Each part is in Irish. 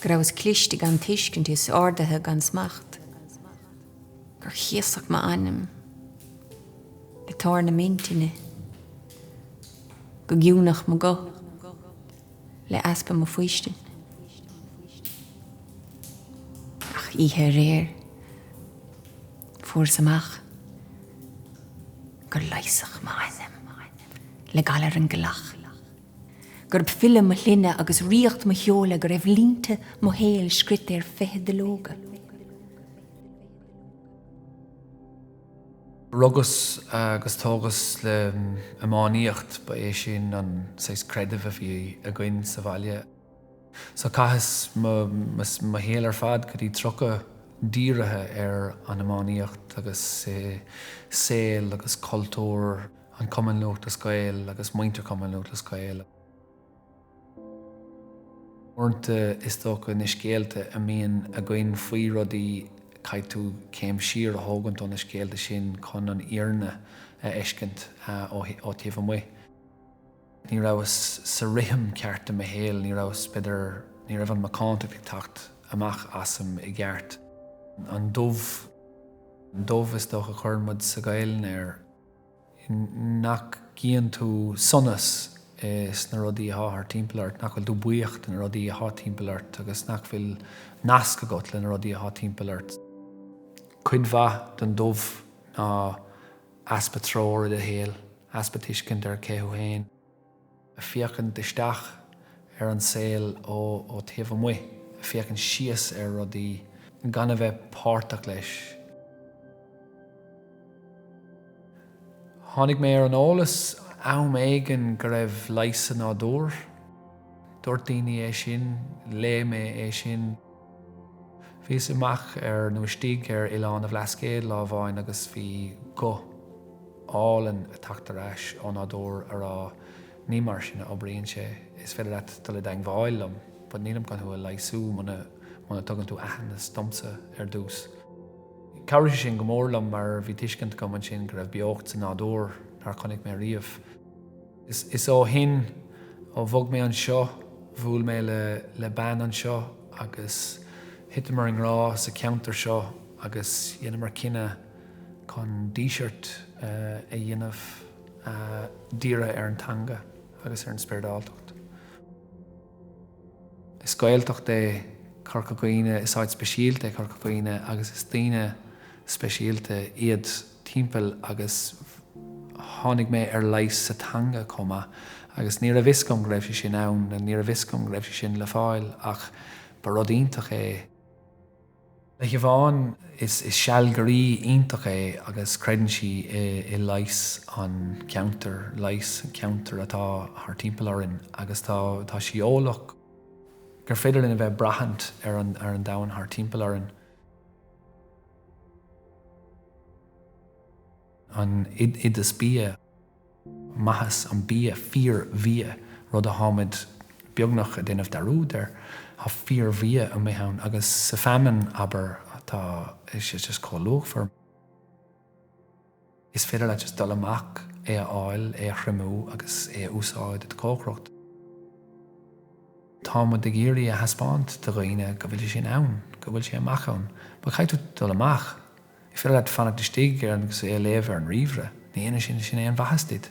go rabhas cliste gan tuiscint is ardaithe gan smacht, gur chéasadh m'anam le toradh na m'intinne, gur ciúnadh mo guth le easpa mo fhaoistin. Ach oíche aréir, fuaireas amach gur leigheasadh m'anam le galar an ghealaigh. Gurb file mo shloinne agus ríocht mo sheola go raibh línte mo shaoil scríte ar fiche duilleoga. Rugas agus tógas le iománaíocht, ba é sin an saghas creidimh a bhí againn sa bhaile. So caitheas mo shaol ar fad go dtí tríocha dírithe ar an iománaíocht agus i saol agus cultúr an Chumann Lúthchleas Gael agus muintir Cumann Lúthchleas Gael. Uaireanta is dócha na scéalta a mbíonn againn faoi rudaí caithfidh tú céim siar a thógaint ó na scéalta sin chun an fhírinne a fheiscint ó taobh amuigh. Ní rabhas sa rithim ceart i mo shaol, ní rabhas, b'fhéidir, ní raibh an mhacántacht ag teacht amach asam i gceart. An dubh, an dubh is dócha a chuireann muid sa Ghaelainn air. nach gcíonn tú sonas i sna rudaí athá thart timpeall ort, nach bhfuil tú buíoch de na rudaí athá timpeall ort agus nach bhfuil nasc agat le na rudaí athá timpeall ort. Cuid mhaith den dubh ná easpa treoir i do shaol, easpa tuiscint ar cé thú fhéin. a féachaint isteach ar an saol ó taobh amuigh, a féachaint síos ar rudaí, gan a bheith páirteach leis. Tháinig mé ar an eolas am éigin go raibh leigheas sa nádúr. Dúirt daoine é sin, léigh mé é sin. Bhíos amach ar, nó istigh ar, Oileán an Bhlascaoid lá amháin agus bhí guth álainn ag teacht ar ais ó nádúr a rá Ní mar sin a oibríonn sé, is féidir leat dul i dteangmháil liom, but nílim chun thú a leigheasú muna dtugann tú aitheantas domsa ar dtús. Chabhraigh sé sin go mór liom mar bhí tuiscint agam ansin go raibh beocht sa nádúr nár chonaic mé riamh. Is ó shin, ó bhog mé anseo, bhuail mé le bean anseo agus thiteamar i ngrá sa cheantar seo agus dheineamar cinneadh chun díseart a dhéanamh dírithe ar an teanga agus ar an spioradáltacht. Is Gaeltacht é Corca Dhuibhne, is áit speisialta é Corca Dhuibhne agus is daoine speisialta iad. timpeall agus tháinig mé ar leigheas sa teanga chomh maith agus ní raibh fhios agam go raibh sé sin ann nó ní raibh fhios agam go raibh sé sin le fáil ach ba rud iontach é. Le Siobhán, is sealgaire iontach é agus creideann sí i leigheas an cheantair, leigheas an cheantair atá thar timpeall orainn agus tá tá sí eolach gur féidir linn a bheith ag braithint ar an domhan thar timpeall orainn. an oideas bia, maitheas an bia, fíor-bhia, rud a tháimid beagnach ag déanamh dearúd air, tá fíor-bhia amuigh ann, agus sa feamainn, abair, atá just chomh luachmhar. Is féidir leat just dul amach, é a fháil, é a thriomú agus é a úsáid i do chócaireacht. Tá muid ag iarraidh a thaispeáint do dhaoine go bhfuil sé sin ann, go bhfuil sé amach ann. Mar chaith tú dul amach, is féidir leat fanacht istigh agus é a léamh ar an ríomhaire, ní dhéanann sé sin aon mhaitheas duit.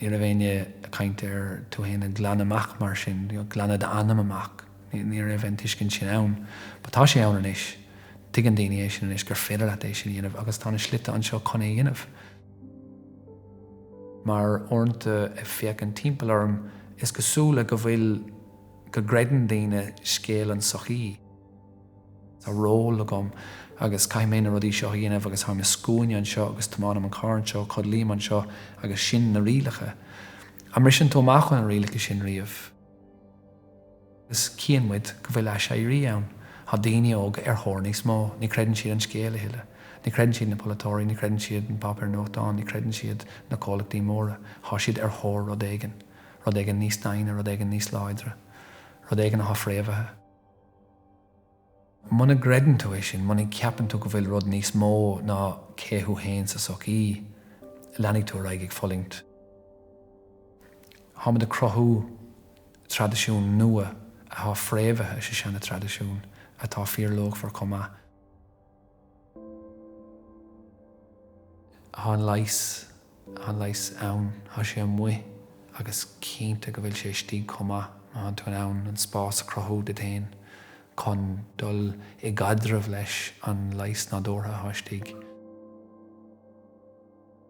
Ní raibh éinne ag caint ar tú fhéin a ghlanadh amach mar sin, glanadh d'anam amach, ní raibh an tuiscint sin ann. But tá sé ann anois. Tuigeann daoine é sin anois, gur féidir leat é sin a dhéanamh agus tá na slite anseo chun é a dhéanamh. Mar uaireanta ag féachaint timpeall orm, is cosúil go bhfuil, go gcreideann daoine scéal an tsochaí. Tá ról agam agus caithfidh mé na rudaí seo a dhéanamh agus táim i scuaine anseo agus tiomáinim an carr anseo, codlaím anseo agus sin na rialacha. An mbriseann tú amach ó na rialacha sin riamh? Agus cíonn muid go bhfuil aiséirí ann. Tá daoine óga ar thóir níos mó. Ní chreideann siad an scéal a thuilleadh. Ní chreideann siad na polaiteoirí, ní chreideann siad na páipéir nuachtáin, ní chreideann siad na comhlachtaí móra. Tá siad ar thóir rud éigin. Rud éigin níos daingne, rud éigin níos láidre. Rud éigin atá fréamhaithe. Muna gcreideann tú é sin, muna gceapann tú go bhfuil rud níos mó ná cé thú fhéin sa sochaí, leanfaidh tú ar aghaidh ag fulaingt. Táimid ag cruthú traidisiún nua atá fréamhaithe sa seana traidisiún atá fíorluachmhar chomh maith. Thá an leigheas, thá an leigheas ann, thá sé amuigh agus cinnte go bhfuil sé istigh chomh maith má thánn tú in ann an spás a chruthú duit fhéin chun dul i gcaidreamh leis an leigheas nádúrtha athá istigh.